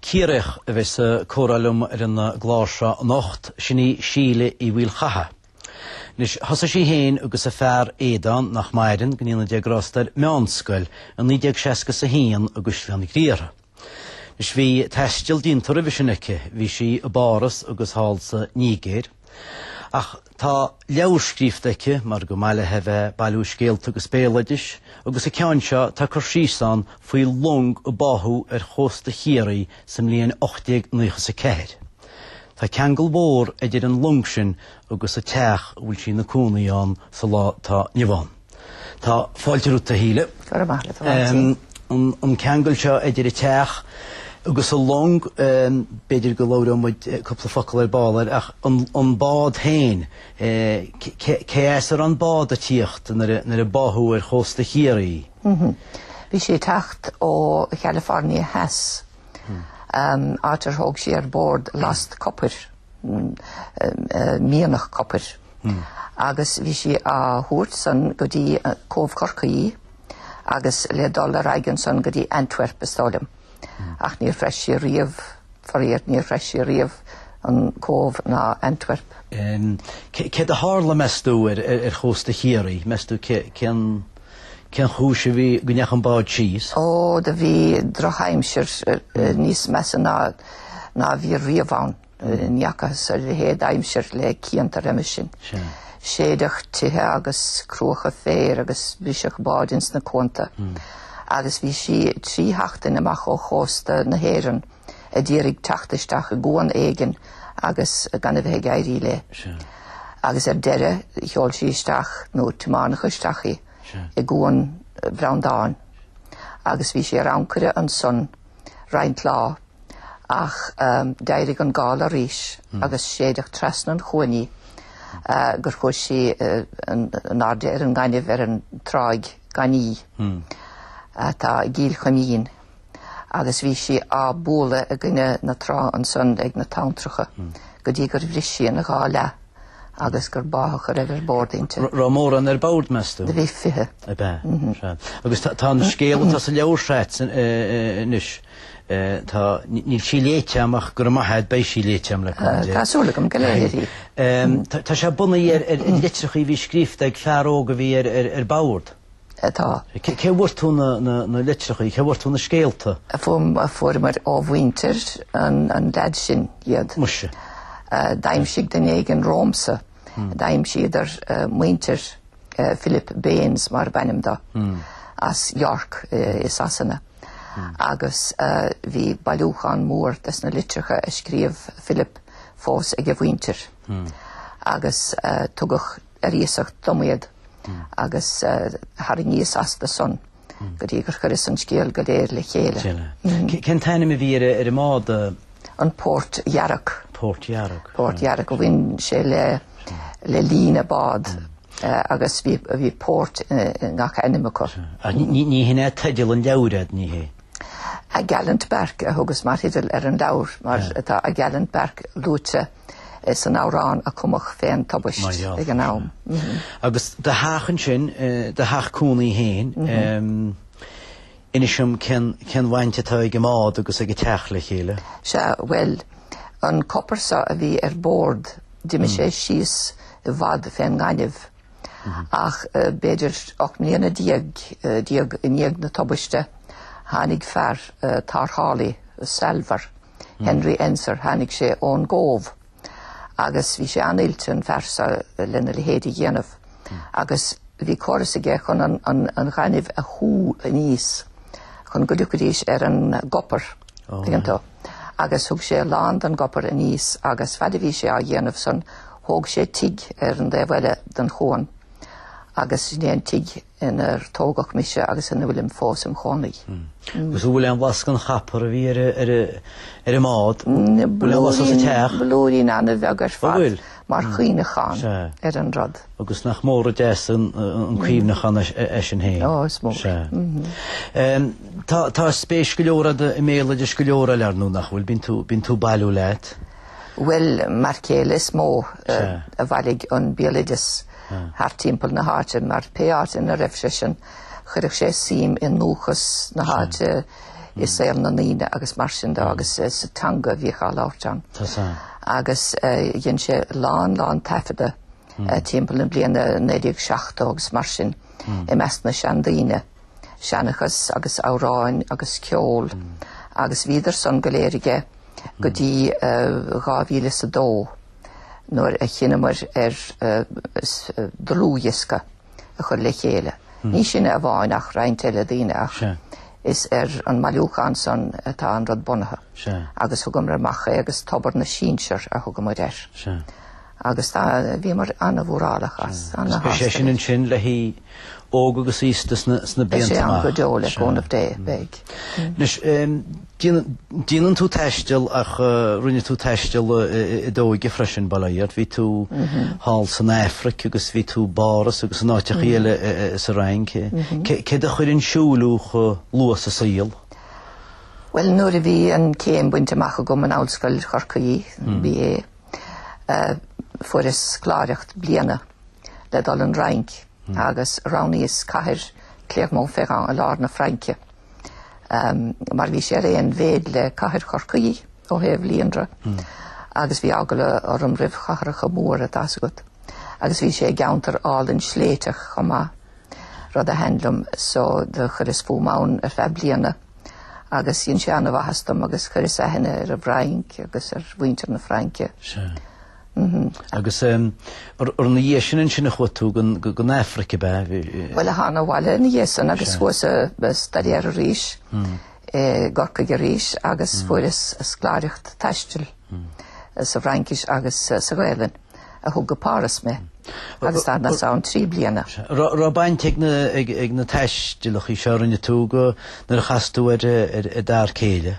Ciarraíoch a bheas ag comhrá liom ar an gclár seo anocht, sin í Síle Uí Mhaolchatha. Anois, thosaigh sí féin agus a fear Aodán, nach maireann, go ndéana Dia grásta air meánscoil i 1961 i gCaisleán Ghriaire. Anois, bhí taisteal déanta roimhe sin aici, bhí sí i bPáras agus thall sa Nigéir. Ach tá leabhar scríofta aici, mar go mba mhaith léi bheith bailiú scéalta agus béaloidis, agus an ceann seo tá cur síos ann faoi long a báthadh ar chósta Chiarraí sa mbliain 1894. Tá ceangal mhór idir an long sin agus an teach a bhfuil sí ina cónaí ann sa lá atá inniu ann. Tá fáilte romhat a Shíle. Go raibh maith agat a Mháirtín. An ceangal seo idir an teach agus an long, b'fhéidir go labhróidh muid cúpla focal ar ball air, ach an bád féin, cé as a raibh an bád ag tíocht nuair a báthadh ar chósta Chiarraí? Bhí sí ag teacht ó Chalifornia Theas, áit ar thóg sí ar bord last copair. mianach copair agus bhí sí á thabhairt san go dtí Cóbh Chorcaí agus le dul ar aghaidh ansan go dtí Antwerp, is dóigh liom. Ach níor shrois sí riamh, faraor, níor shrois sí riamh an Cóbh ná Antwerp. Céard a tharla, meas tú, ar chósta Chiarraí? Meas tú cén. Cén chúis a bhí go ndeachaigh an bád síos? Ó, do bhí drochaimsir níos measa ná a bhí riamh ann. Ní fhacthas a leithéid d'aimsir le cianta roimis sin. Séideadh tithe agus cruacha féir agus briseadh báid ins na cuanta. Agus bhí sí trí sheachtain amach ó chósta na hÉireann. a d'iarraidh teacht isteach i gcuan éigin agus gan a bheith ag éirí léi. Agus ar deireadh sheol sí isteach, nó tiomáineadh isteach í, i gcuan Bhreandáin. Agus bhí sí ar ancaire ansan roinnt lá ach d'éirigh an gála arís agus séideadh trasna an chuain í gur chuaigh sí in airde ar an ngaineamh ar an dtráigh ghainí atá i gCill Chuimín. agus bhí sí á bualadh i gcoinne na trá ansan ag na tonntracha go dtí gur bhris sí ina dhá leath agus gur báthadh a raibh ar bord inti. Raibh mórán ar bord, meas tú? Do bhí fiche. Ab ea? Sea. Agus tá an scéal atá sa leabhar seo agat anois, tá, níl sí léite agam ach go raibh maith a'd beidh sí léite agam le cúnamh Dé. Tá súil agam go léifir í. Tá sé bunaithe ar litreacha a bhí scríofa ag fear óg a bhí ar bord. atá. Cé bhfuair tú na litreacha, cé bhfuair tú na scéalta? Fuaireamar ó mhuintir an leaid sin iad. Muise. D'aimsigh duine éigin romhamsa, d'aimsíodar muintir Philip Baines mar ab ainm do, as York i Sasana, agus bhí bailiúchán mór des na litreacha a scríobh Philip fós ag a mhuintir agus tugadh ar iasacht dom iad agus tharraingíos astu san go dtí gur chuireas an scéal go léir le chéile. Cén t-ainm a bhí ar an mbád? An Port Yarrock. Port Yarrock. Port Yarrock a bhain sé le líne bád agus bhí Port i ngach ainm acu. Ní hin é teideal an leabhair, ní hé? A Gallant Barque a thugas mar theideal ar an leabhar mar atá A Gallant Barque luaite san amhrán a cumadh fén tubaist ag an am. Agus do theach ansin, do theach cónaí féin, inis dom cén bhaint atá ag an mbád agus ag an teach le chéile? Sea, bhuel, an copar so a bhí ar bord, d'imigh sé síos i bhfad fén ngaineamh. Ach b'fhéidir ocht mbliana déag i ndiaidh na tubaiste, tháinig fear, tarrthálaí, salvor, Henry Ensor, tháinig sé ón gCóbh agus bhí sé an-oilte, an fear so, lena leithéid a dhéanamh. Agus bhí córas aige chun an ghainimh a shú aníos chun go dtiocfaidís ar an gcopar. Tuigeann tú? Agus thug sé a lán den gcopar aníos agus fad a bhí sé á dhéanamh san, thóg sé tigh ar an taobh eile den chuan agus sin é an tigh inar tógadh mise agus ina bhfuilim fós im chónaí. Hmm. Hmm. Agus bhfuil aon bhlas den chopar a bhí ar an mbád? Bhfuil aon bhlas sa teach? Blúirín ana-bheag ar fad mar chuimhneachán ar an rud. Agus nach mór is deas an cuimhneachán eisean féin. Ó, is mór. Tá spéis go leor a'd i mbéaloideas go leor eile, ar ndóigh, nach bhfuil? Bíonn tú bailiú leat. Bhuel, m'fhear céile is mó a bhailigh an béaloideas thart timpeall na háite mar pé áit ina raibh seisean chuireadh sé suim i ndúchas na háite, i saol na ndaoine agus mar sin de agus sa teanga a bhíodh á labhairt ann. Agus dhein sé a lán, lán taifeadta timpeall na bliana 1970 agus mar sin i measc na seandaoine, seanchas agus amhráin agus ceol agus bhíodar san go léir aige go dtí 2002 nuair a chinneamar ar dhlúthdhiosca. a chur le chéile. Ní sinne amháin ach roinnt eile daoine ach is ar an mbailiúchán san atá an rud bunaithe agus thugamar amach é agus Tobar na Sinsear a thugamar air. Agus tá, bhíomar an-mhórálach as. Agus beidh sé sin ansin le haghaidh óg agus aosta sna blianta amach. Beidh sé ann go deo le cúnamh Dé, beidh. Anois, Déanann tú taisteal ach rinne tú taisteal i d'óige freisin, bail ó Dhia bhí tú thall san Afraic agus bhí tú i bPáras agus in áiteachaí eile sa Fhrainc. Céard a chuir ag siúl thú chomh luath sa saol? Bhuel, nuair a bhí an chéim bainte amach agam in Ollscoil Chorcaí, BA, fuaireas scoláireacht bliana le dul don Fhrainc agus roghnaíos cathair Clermont-Ferrand i lár na Fraince. mar bhí sé ar aon mhéid le cathair Chorcaí ó thaobh líonra agus bhí eagla orm roimh chathracha móra tá's agat agus bhí sé i gceantar álainn sléibhtiúil chomh maith, rud a thaitin liom so do chuireas fúm ann ar feadh bliana agus dhein sé an-mhaitheas dom agus chuireas aithne ar an bhFrainc agus ar mhuintir na Fraince. Agus ar ina dhiaidh sin ansin a chuaigh tú go dtí an Afraic, ab ea? Bhuel, thána abhaile ina dhiaidh sin agus chuas ag staidéar arís i gCorcaigh arís agus fuaireas scoláireacht taistil sa bhFraincis agus sa Ghaelainn a thug go Páras mé agus d'fhanas ann trí bliana. Raibh baint ag na taistealachaí seo a rinne tú go nuair a chas tú ar d'fhear céile?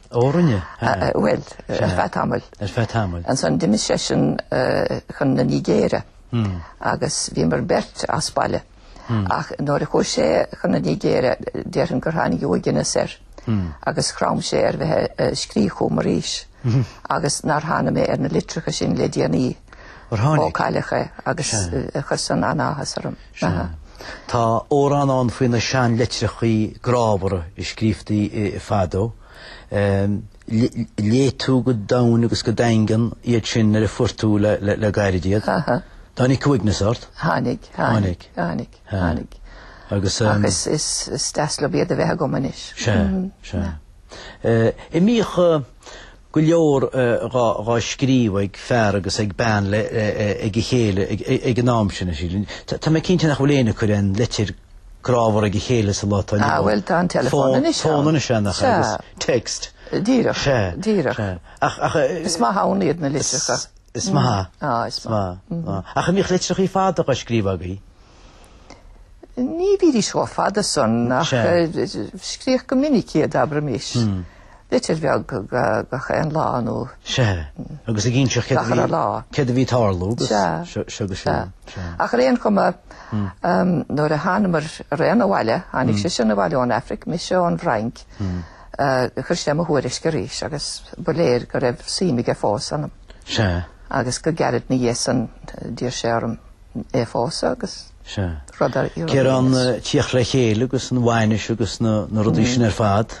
Ó rinne, aye. Bhuel, ar feadh tamaill. Ar feadh tamaill. Ansan d'imigh seisean chun na Nigéire agus bhíomar beirt as baile. Ach nuair a chuaigh sé chun na Nigéire déarfainn gur tháinig uaigneas air agus chrom sé ar bheith ag scríobh chugam arís agus nár tháinig mé ar na litreacha sin le déanaí. Ó cailleadh é agus chuir san an-áthas orm. Sea. Tá amhrán ann faoi na seanlitreacha grámhara a scríobhtaí fadó. Léigh tú go domhain agus go daingean iad sin nuair a fuair tú le gairid iad. Tháinig uaigneas ort? Tháinig, tháinig, tháinig, tháinig. Agus is deas liom iad a bheith agam anois. Sea, sea. An mbíodh go leor dhá scríobh ag fear agus ag bean le ag a chéile ag an am sin, sílim. Tá mé cinnte nach bhfuil éinne ag cur aon litir grámhar ag a chéile sa lá atá inniu ann. Á, bhuel, tá an teileafón anois ann. Tá an fón anois ann, agus text. Díreach. Sea. Díreach. Sea. Ach, ach, eh, Is maith ann iad na litreacha. Is maith. Á, is maith. Á. Ach an bhíodh litreachaí fada á scríobh agaí? Ní bhídís chomh fada san ach scríodh go minic iad, abraimis, litir bheag gach aon lá nó gach a lá. Céard a bhí ag tarlú agus seo go seo. Ach ar aon chuma, nuair a thánamar araon abhaile, tháinig sé sin abhaile ón Afraic, mise ón bhFrainc, chuir sé mo thuairisc arís agus ba léir go raibh suim aige fós ionam. Agus go gairid ina dhiaidh san d'iarr sé orm. é a phósadh agus rud ar iarraidh. Cé raibh an tíocht le chéile agus an bhainis agus na rudaí sin ar fad?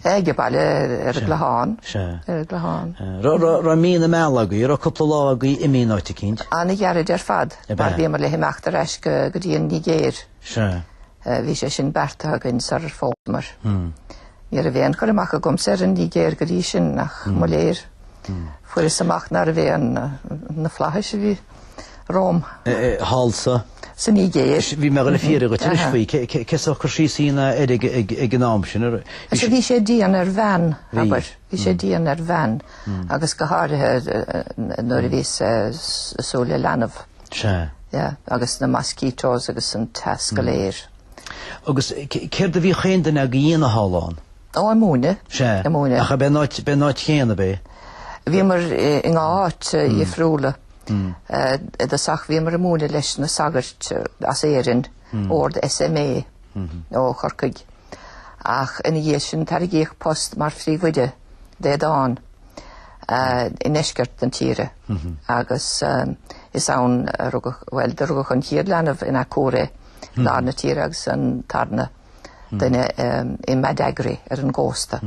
Age baile ar an gClochán. Ar an gClochán. Raibh mí na meala agaí? Raibh cúpla lá agaí imithe in áit eicínt? Ana ghairid ar fad. Ar fad. Bhíomar le himeacht ar ais go dtí an Nigéir. Bhí sé sin beartaithe againn sarar phósamar. Ní raibh aon chur amach agamsa ar an Nigéir go dtí sin ach mo léir. Fuaireas amach nárbh é an na flaithis a bhí. romham. Thall sa. sa Nigéir. Bhí mé le fiafraí dhíot anois faoi cén sórt cur síos a dhéanfá air ag an am sin. Is bhí sé dian ar bhean, abair. Bhí sé dian ar bhean agus go háirithe nuair a bhíos ag súil le leanbh. Sea. Agus na mosquitoes agus an teas go léir. Agus céard a bhíodh chaon duine agaibh a dhéanamh thall ann? Ó, ag múineadh. Sea, ag múineadh. ach ab é an áit chéanna, ab é? Bhíomar in dhá áit dhifriúla. I dtosach bhíomar ag múineadh leis na sagairt as Éirinn, ord SMA ó Chorcaigh. Ach ina dhiaidh sin tairgíodh post mar phríomhoide d'Aodán i ndeisceart na tíre agus is ann a rugadh, bhuel do rugadh an chéad leanbh in Akure, lár na tíre, agus an tarna. duine i mBadagry ar an gcósta.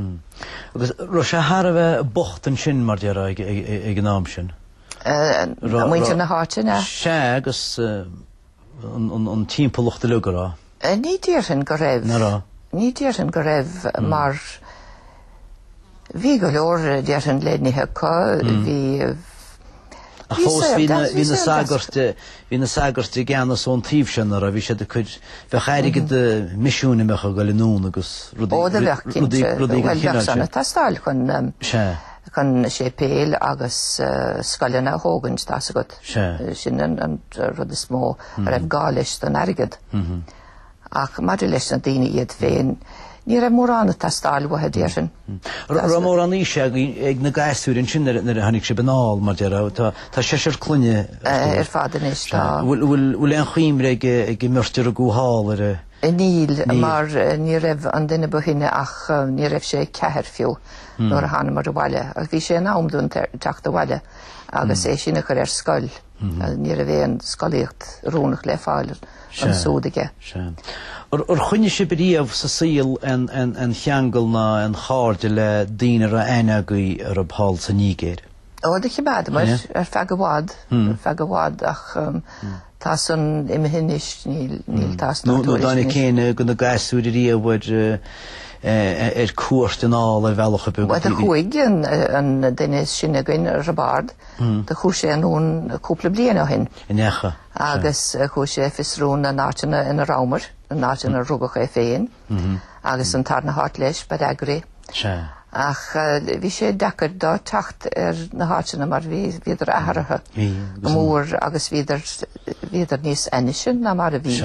Agus raibh sé thar a bheith bocht ansin, mar a déarfá, ag an am sin. Muintir na háite, an ea? Sea, agus an timpeallacht uilig, an raibh. Ní déarfainn go raibh. Ná raibh. Ní déarfainn go raibh mar. Bhí go leor déarfainn le n-ithe acu, bhí Ach fós bhí na, bhí na sagairt, bhí na sagairt i gceannas ón taobh sin ná raibh, bhí siad ag cur, bheadh airgead misiúin an mbeadh ag dul anonn agus rudaí, Ó, do bheadh, rudaí, cinnte, rudaí bhuel, den bheadh chineál san sin. ag teastáil chun, Sea. chun séipéil agus scoileanna a thógaint, tá a fhios agat. Sea. Sin an rud is mó a raibh gá leis don airgead. Ach maidir leis na daoine iad féin, ní raibh mórán ag teastáil uathu, déarfainn. Raibh mórán aoise ag na gasúir ansin nuair a tháinig sibh anall, mar a déarfá, ó tá seisear clainne ar fad anois, tá. Bhfuil aon chuimhne ag an mbeirt a rugadh thall air. Níl, mar ní raibh an duine ba shine ach ní raibh sé ceathair fiú nuair a thánamair abhaile, ach bhí sé in am dúinn teacht abhaile agus é sin a chur ar scoil. Ní raibh aon scolaíocht oiriúnach le fáil ansúd aige. Ar choinnigh sibh riamh sa saol aon cheangal ná aon chairde le daoine a raibh aithne agaibh orthu thall sa Nígéir? Ó, do chimeádamair ar feadh i bhfad, ar feadh i bhfad ach tá san imithe anois, níl tásc ná tuairisc anois. Nó an dtáinig éinne de na gasúir riamh ar cuairt anall ar bhealach ar bith go dtí. Bhuel do chuaigh an duine is sine againn, Roibeárd. do chuaigh sé anonn cúpla bliain ó shin. An ndeachaigh? Agus chuaigh sé ag fiosrú na n-áiteanna ina rabhamar, na n-áiteanna ar rugadh é féin, agus an tarna háit leis, Badagry. Ach bhí sé deacair dó teacht ar na háiteanna mar bhí, bhíodar atharaithe go mór agus bhíodar, bhíodar níos ainnise ná mar a bhí.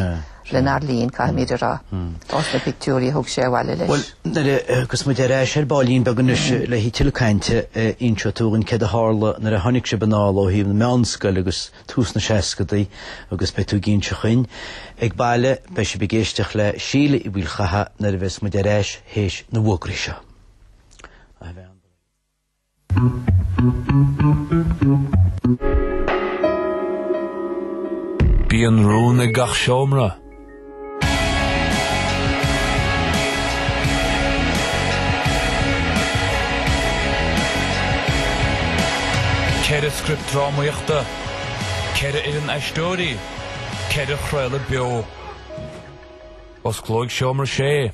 Lenár linn, caithfimid a rá, ós na pictiúirí a thug sé abhaile leis. Bhuel, agus muid ar ais ar baillín beag anois le haghaidh tuilleadh cainte, inseoidh tú dhúinn céard a tharla nuair a tháinig sibh anall ó thaobh na meánscoile agus tús na seascadaí agus beidh tú ag inseacht dhúinn. Ag baile, beidh sibh ag éisteacht le Síle Uí Mhaoilchatha nuair a bheas muid ar ais théis na bhfógraí seo. Bíonn rún ag gach seomra. Ceithre script drámaíochta, ceithre fhoireann aisteoirí, ceithre chraoladh beo. Osclóidh seomra 6.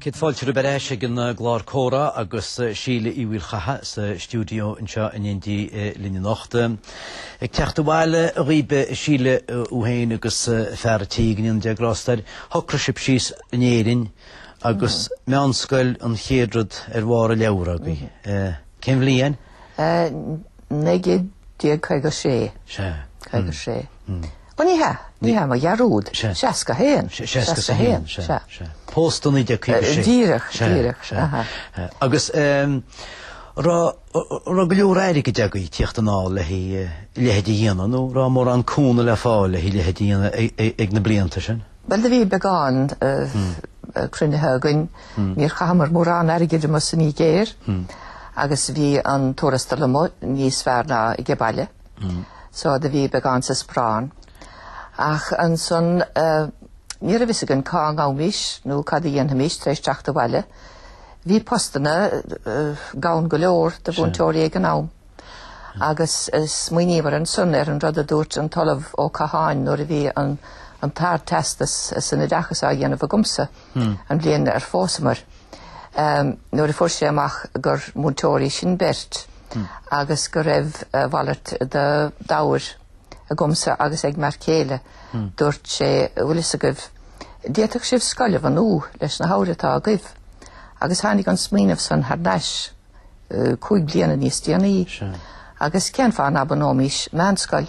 Céad fáilte romhaibh ar ais ag an gclár comhrá agus Síle Uí Mhaoilchatha sa stiúideo anseo in éindí linn anocht. Ag teacht abhaile dhaoibh, a Shíle, thú féin agus fear an tí, go ndéana Dia grásta air, shocraigh sibh síos in Éirinn agus meánscoil an chéad rud ar bharr an leabhair agaibh. Cén bhliain? 1956. Sea. 56. Ó ní hea, ní hea, mo dhearúd. Sea. 61. Sea, 61, sea, sea. Sea. Pósta 1956. Díreach, Sea, díreach, sea. aha. Agus eh, raibh, raibh go leor airgid agaibh ag tíocht anall le haghaidh, eh, a leithéid a dhéanamh nó raibh mórán cúnamh le fáil le haghaidh a leithéid a dhéanamh ag, ag, ag na blianta sin? Bhuel do bhí beagán cruinnithe againn, níor chaitheamar mórán airgid amuigh sa Nigéir agus bhí an tuarastal amuigh níos fearr ná age baile, so do bhí beagán sa sparán. Ach ansan ní raibh a fhios againn cá ngabhaimis nó cad a dhéanfaimis tar éis teacht abhaile. Bhí postanna gann go leor do mhúinteoirí ag an am. agus smaoiníomar ansan ar an rud a dúirt an tOllamh Ó Catháin nuair a bhí an tArdteastas san oideachas á dhéanamh agamsa an bhliain ar phósamar, nuair a fuair sé amach gur múinteoirí sinn beirt agus go raibh a mhalairt de d'ábhair agamsa agus ag m'fhear céile, dúirt sé, Bhfuil fhios agaibh, d'fhéadfadh sibh scoil a bhunú leis na hábhair atá agaibh. Agus tháinig an smaoineamh san thar n-ais. cúig bliana níos déanaí agus cén fáth ná bunóimis meánscoil?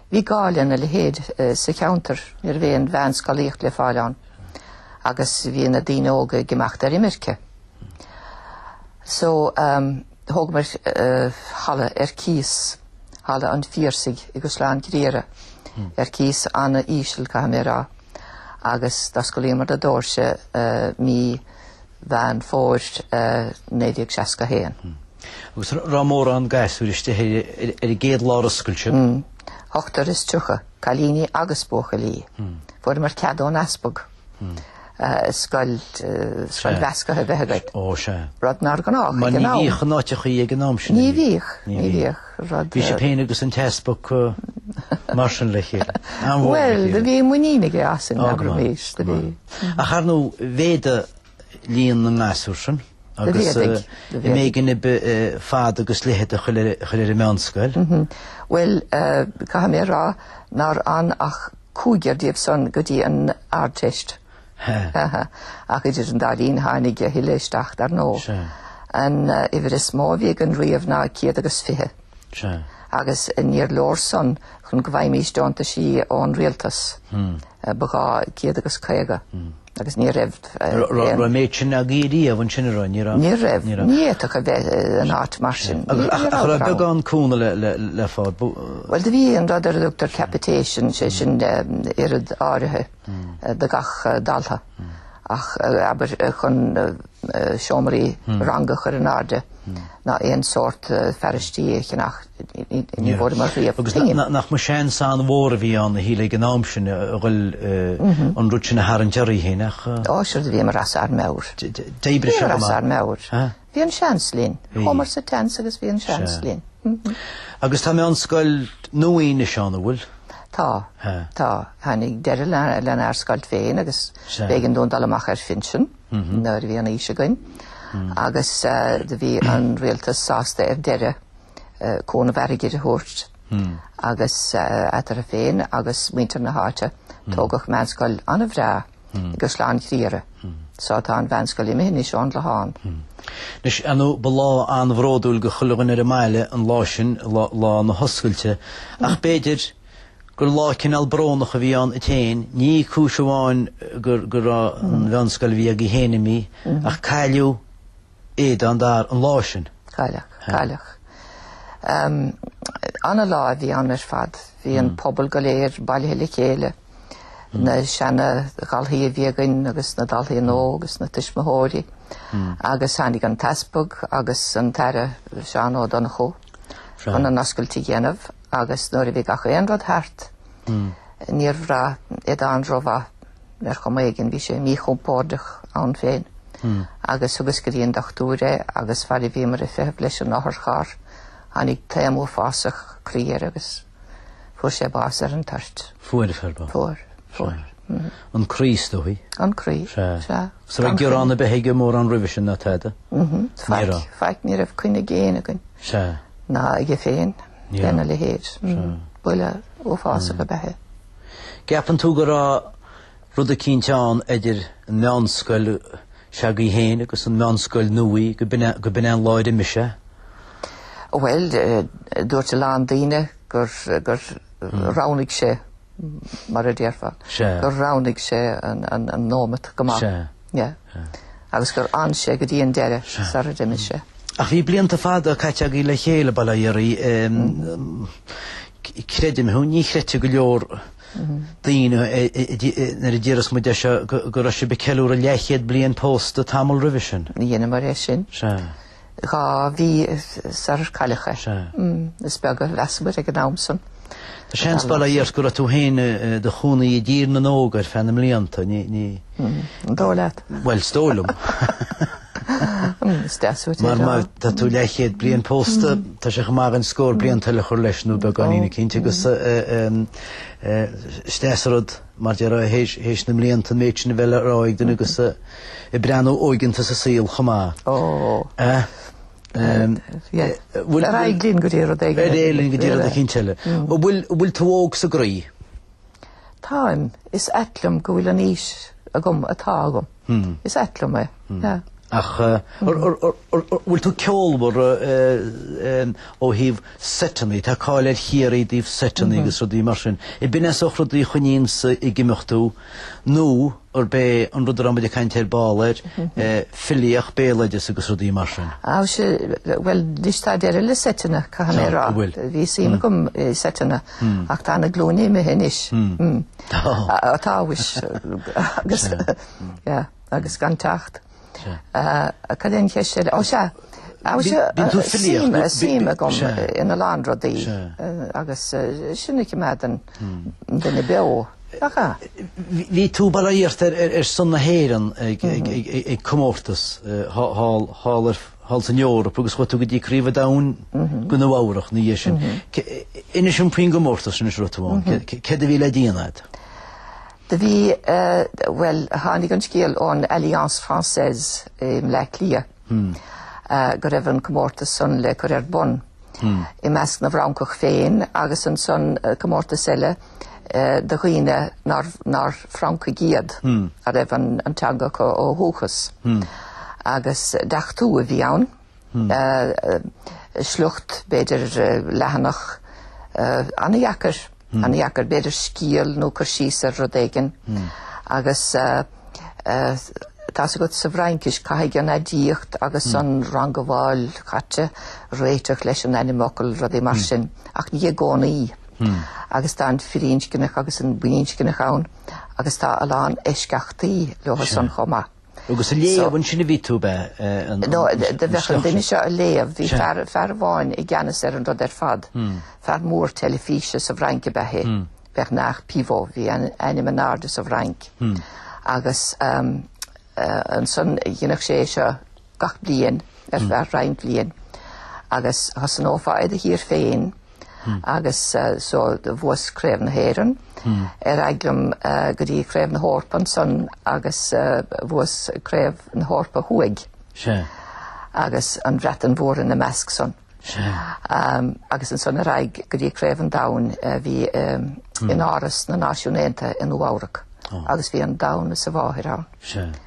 Bhí gá lena leithéid sa cheantar, ní raibh aon mheánscolaíocht le fáil ann agus bhí na daoine óga ag imeacht ar imirce. So, thógamar halla ar cíos, Halla an Phiarsaigh i gCaisleán Ghriaire, ar cíos an-íseal, caithfidh mé a rá, agus d'osclaíomar na doirse mí Mheán Fómhair 1961. Agus raibh mórán gasúr istigh ar an gcéad lá ar oscail tú? Mh. Ochtar is tríocha, cailíní agus buachaillí. Fuaireamar cead ón Easpag scoil mheascaithe a bheith againn. Ó sea. Rud nár ghnáth ag an am. Mar ní bhíodh in áiteachaí ag an am sin. Ní bhíodh, ní bhíodh. Bhí sibh féin agus an tEaspag mar sin le chéile. An-mhór lena chéile? Bhuel, do bhí muinín aige asainn, abraimis, do bhí. Ach ar ndóigh, mhéadaigh líon na ngasúr sin agus. Do mhéadaigh, do mhéadaigh. B'éigean daoibh fad agus leithead a chur ar an meánscoil. Bhuel, caithfidh mé a rá nár fhan ach cúigear díobh san go dtí an Ardteist. Hehe. Ach idir an dá linn tháinig a thuilleadh isteach, dar ndóigh. Sea. An uimhir is mó a bhí againn riamh ná 120. Sea. Agus níor leor san chun go bhfaighimís deontaisí ón rialtas. Ba ghá 150. Agus ní raibh aon. Raibh an méid sin agaí riamh ansin an raibh? Ní raibh. Ní raibh. Ní raibh. Ní fhéadfadh a bheith in áit mar sin. Ní raibh. Ach raibh beagán cúnamh le fáil. Bhuel do bhí an rud ar a dtugtar capitation, sé sin oiread áirithe. do gach dalta ach abair chun seomraí ranga a chur in airde ná aon sórt fearaistí a cheannach, ní bhfuaireamar riamh. Agus nach mba seans an-mhór a bhí ann a shíl ag an am sin a ghoil an rud sin a tharraingt oraibh féin, nach. Ó sure do bhíomar as ár meabhair. D'oibrigh sé go maith. Bhíomar as ár meabhair. Bhí an seans linn. Chuamar sa tseans agus bhí an seans linn. Agus tá meánscoil nua anois ann, an bhfuil? Tá. Tá. Tháinig deireadh lenár scoil féin agus b'éigean dúinn dul amach ar phinsean nuair a bhí an aois againn agus do bhí an rialtas sásta ar deireadh cúnamh airgid a thabhairt agus eatarthu féin agus muintir na háite tógadh meánscoil an-bhreá. i gCaisleán Ghriaire. So tá an mheánscoil imithe anois ón gClochán. Anois ar ndóigh ba lá an-bhródúil do chuile dhuine ar an mbaile an lá sin, lá na hoscailte, ach b'fhéidir gur lá cineál brónach a bhí ann duit féin, ní cúis amháin go raibh an mheánscoil a bhí agaibh féin imithe, ach cailleadh Aodán ar an lá sin. Cailleadh, cailleadh. Ana-lá a bhí ann ar fad. Bhí an pobal go léir bailithe le chéile, na seana-dhalthaí a bhí againn agus na dalthaí nua agus na tuismitheoirí agus tháinig an t-easpag agus an tAire Seán Ó Donnchadha chun an oscailt a dhéanamh agus nuair a bhí gach aon rud thart níor bhraith Aodán rómhaith. Ar chuma éigin bhí sé míchompordach ann féin agus thugas go dtí an dochtúir é agus fad a bhíomar ag feitheamh leis an otharcharr tháinig taom uafásach croí air agus fuair sé bás ar an toirt. Fuair, an fear bocht. Fuair, fuair. An croí is dóigh? An croí, sea. Is an raibh gearán ar bith aige mórán roimhe sin ná tada? Mhm, faic, faic ní raibh coinne ag éinne againn. Sea. Ná aige féin, lena leithéid. Buille uafásach ab ea é. gCeapann tú go raibh rud eicínt ann idir an meánscoil seo agaibh féin agus an meánscoil nua go go b'in an lá ar imigh sé? Bhuel, dúirt a lán daoine gur gur roghnaigh sé, mar a déarfá, gur roghnaigh sé an nóimeat go maith. Yeah. Agus gur fhan sé go dtí an deireadh, sar a d'imigh sé. Ach bhí blianta fada caite agaibh le chéile, bail ó Dhia oraibh. Eh, creidim, hú, ní chreidfidh go leor daoine nuair a déarfas muid é seo go raibh sibh ag ceiliúradh leathchéad bliain pósta tamall roimhe sin. Dheineamar é sin. Sea. Dhá mhí sar cailleadh é. Sea. Is beag a mheasamar ag an am san. Tá seans, bail ó Dhia ort, go raibh tú féin i do chónaí i dTír na nÓg ar feadh na mblianta. Ní, ní. An dóigh leat? Bhuel, is dóigh liom. Is deas uait é Mar seo. mar tá tú leathchéad bliain pósta, tá sé chomh maith dom scór blianta eile a chur leis nó beagáinín eicínt agus is deas an rud Mar a déarfá, théis na mblianta an méid sin a bheith le rá ag duine agus ag breathnú óigeanta sa saol chomh maith. Ó. Ar aghaidh linn go dtí rud éigin eile. Ar aghaidh linn go dtí rud éicint eile. An bhfuil tú óg sa gcroí? Táim. Is ait liom go bhfuil an aois agam atá agam. Is ait liom é. Ach bhfuil tú ceolmhar ó thaobh seiteanna, tá cáil ar Chiarraí i dtaobh seiteanna agus rudaí mar sin, ab in é an sórt rudaí a choinníonns ag imeacht tú nó arb é an rud a raibh muid ag caint ar ball air, filíocht, béaloideas agus rudaí mar sin? Á sea, bhuel, anois tá deireadh le seiteanna, caithfidh mé a rá. Bhí suim agam i seiteanna ach tá na glúine imithe anois. Táthas, agus gan teacht. Cad é an cheist eile? Ó sea, bíonn tú filíocht, tá suim agam ina lán rudaí agus sin a choimeádann duine beo, nach ea? Bhí tú bailithe iarrta ar son na hÉireann ag comórtas thall ar thall san Eoraip agus chuaigh tú go dtí Craobh an Domhain go Nua-Eabhrac ina dhiaidh sin. Inis dom faoin gcomórtas sin a raibh tú ann. Céard a bhí le déanamh agat? Do bhí, bhuel, tháinig an scéal ón Alliance Française i mBleá Cliath go raibh an comórtas san le cur ar bun. i measc na bhFrancach féin agus ansan comórtas eile do dhaoine nár Francaigh iad ná raibh an teanga acu ó dhúchas. Agus deachtú a bhí ann, sliocht, b'fhéidir leathanach, an-dheacair. An-dheacair, b'fhéidir scéal nó cur síos ar rud éigin? Agus tá a fhios agat sa bhFraincis, caithfidh an aidiacht agus an rangabháil chaite réiteach leis an ainmfhocal, rudaí mar sin. Ach ní i gcónaí. Agus tá an firinscneach agus an baininscneach ann agus tá a lán eisceachtaí leo san chomh maith. Agus ag léamh ansin a bhí tú, ab ea? No, do bheadh an duine seo á léamh, bhí fear amháin i gceannas ar an rud ar fad, fear mór teilifíse sa bhFrainc ab ea é, Bernard Pivot, bhí ainm in airde sa bhFrainc. Agus ansan dhéanadh sé é seo gach bliain ar feadh roinnt blian. Agus thosnófá i do thír féin. agus so bhuas Craobh na hÉireann ar aghaidh liom go dtí Craobh na hEorpa ansan agus bhuas Craobh na hEorpa Thuaidh agus an Bhreatain Mhór ina measc san agus ansan ar aghaidh go dtí Craobh an Domhain a bhí in Áras na Náisiún Aontaithe i Nua-Eabhrac agus bhí an domhan is a mháthair ann.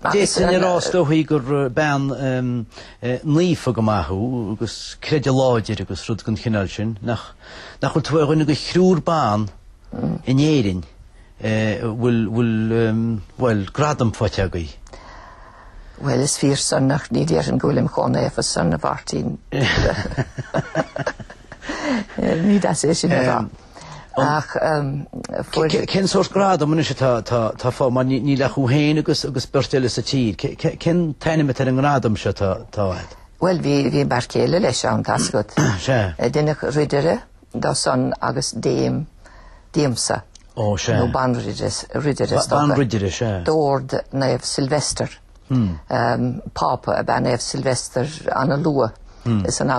D'fhéadfainn a rá is dóichí gur bean naofa go maith thú, agus creideamh láidir agus rud den chineál sin. Nach bhfuil tú ar dhuine de thriúr ban in Éirinn a bhfuil, bhuel, gradam faighte agaibh? Bhuel, is fíor san ach ní déarfainn go bhfuilim chomh naofa san, a Mháirtín. Ní deas é sin a rá. Ach cén sórt gradam anois atá fá mar níl ach thú féin agus beirt eile sa tír? Cén t-ainm atá ar an ngradam seo atá agat? Bhuel, bhí m'fhear céile leis ann, tá a fhios agat. Sea. Deineadh ridire de san agus Dame díomsa. Ó, sea. Nó banridire, is dócha. Banridire, sea. D'ord Naomh Silvester, Pápa ab ea Naomh Silvester ana luath insan eaglais.